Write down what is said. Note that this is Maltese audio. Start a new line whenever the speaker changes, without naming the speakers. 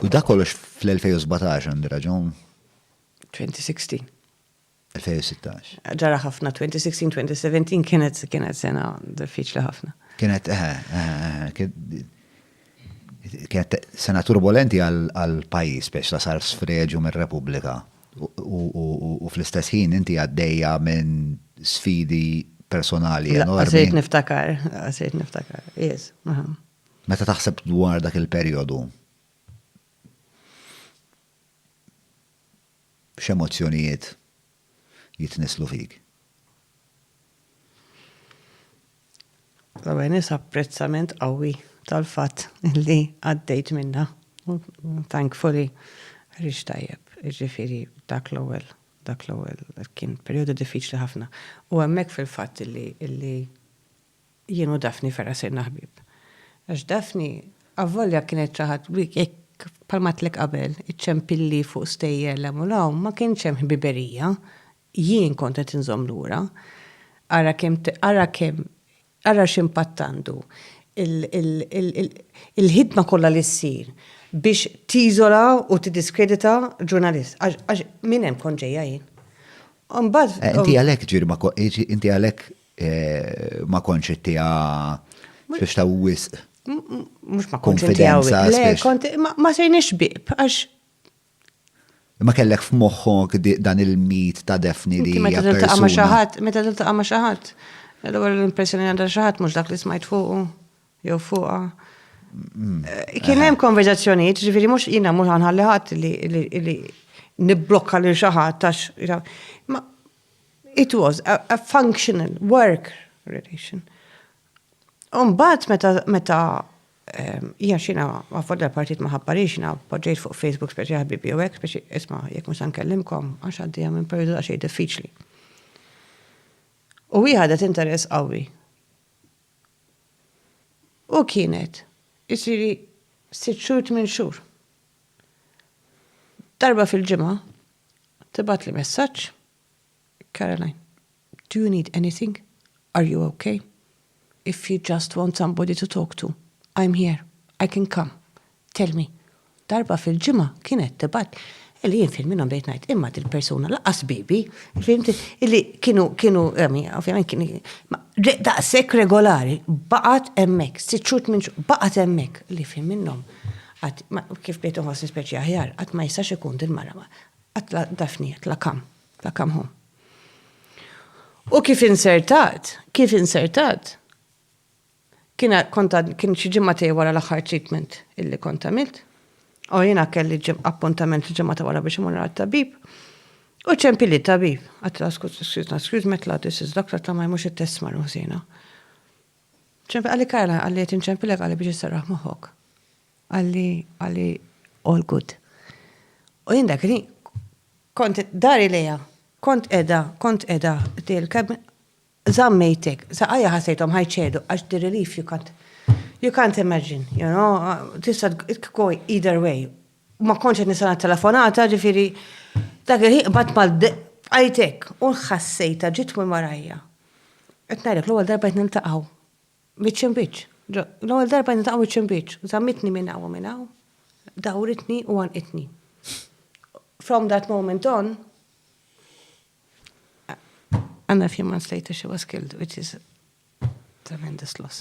U da kollox fl-2017 għandi raġun? 2016. 2016. Ġara ħafna
2016, 2017 kienet kienet sena diffiċli ħafna. Kienet eh, eh, eh,
kienet sena turbolenti għal pajjiż biex la sar sfreġu mir-Repubblika. U fl-istess ħin inti għaddejja minn sfidi personali enormi. Għasajt niftakar,
għasajt niftakar, yes.
Meta taħseb dwar dak il-perjodu, x'emozzjonijiet jitnisslu fik?
L-ewwel nett apprezzament qawwi tal-fatt li għaddejt minnha. Thankfully ħriġt tajjeb. Jiġifieri dak l-ewwel, dak l-ewwel kien perjodu diffiċli ħafna. U hemmhekk fil-fatt illi Jien u Daphne ferra sirna ħbieb. Għax Daphne, avvolja kienet xi ħadd li hekk bħalma għedtlek qabel, iċċempilli fuq stejjer 'l hemm u 'l hawn, ma kienx hemm ħbiberija, jien kont qed inżomm lura. Ara kemm ara kemm ara x'impatt għandu il-ħidma kollha li ssir biex tiżola u tiddiskredita ġurnalist. Għax minn hemm kont ġejja jien. Imbagħad.
Inti għalhekk ġirba inti għalhekk Ma kontx ittiha biex ta' wisq. Mhux ma
kontx ittiha wisq. Ma sejniex bib għax.
Ma kellek f'moħħok dan il-mit ta' Daphne li. Meta tiltaqa' ma' xi ħadd,
meta tiltaqa' ma' xi ħadd. L-ewwel l-impressjoni li għandha xi ħadd mhux dak li smajt fuqu jew fuqha. Kien hemm konverżazzjonijiet, ġifieri mhux jiena mhux ħanħalli ħadd li nibblokka lil xi ħadd għax. It was a, a functional work relation. Umbat meta, meta ehm, jina xina għafodda l-partit maħabba li xina poġġejt fuq Facebook speċi ħabibi u għek speċi isma jek musa nkellimkom għax għaddi għam periodu għaxej diffiċli. U jħadet interess għawi. U kienet, jisiri, sitt xur, tmin xur. Darba fil-ġimgħa tibgħatli messaġġ, Caroline, do you need anything? Are you okay? If you just want somebody to talk to, I'm here, I can come, tell me. Darba fil-ġimgħa kienet tibgħat li jien fil-minhom bejt ngħid imma dil-persuna laqas bibi, fimti, li kienu kienu ovvjament kien daqshekk regolari, baqgħet hemmhekk, sitt xhur minn baqgħet hemmhekk li fil minnhom. Qatt, kif bdejt inħossni speċi aħjar, qatt ma jistax ikun din mara ma. Qatt la Daphne, la come, la come home. U kif insertat, kif insertat, kien kont kien xi ġimgħa tiegħi wara l-aħħar treatment illi kont għamilt. U jiena kelli appuntament il-ġimgħa ta' wara biex imur għal tabib. U ċempi li tabib, għatla skuz, excuse me, tla, this is doctor, tla ma jmux il-test marru ħsina. Ċempel, qalli Kajla, qalli qed inċempilek qalli biex isserraħ moħħok. Qalli, qalli all good. U jien dak li kont dari lejha, kont edha, kont edha, il-kab zammejtek, saqajja ħasejtom ħajċedu, għax the relief you can't, you can't imagine, you know, tista go either way. Ma konċet nisana telefonata, ġifiri, dak il-ħin bat mal għajtek, u ħassejta ġit minn warajja. Qed ngħidlek, l-ewwel darba qed niltaqgħu wiċċ imbiċċ. L-ewwel darba qed niltaqgħu wiċċ imbiċċ. Żammitni minn hawn u minn hawn, dawritni u għannqitni. From that moment on, and a few months later she was killed, which is tremendous loss.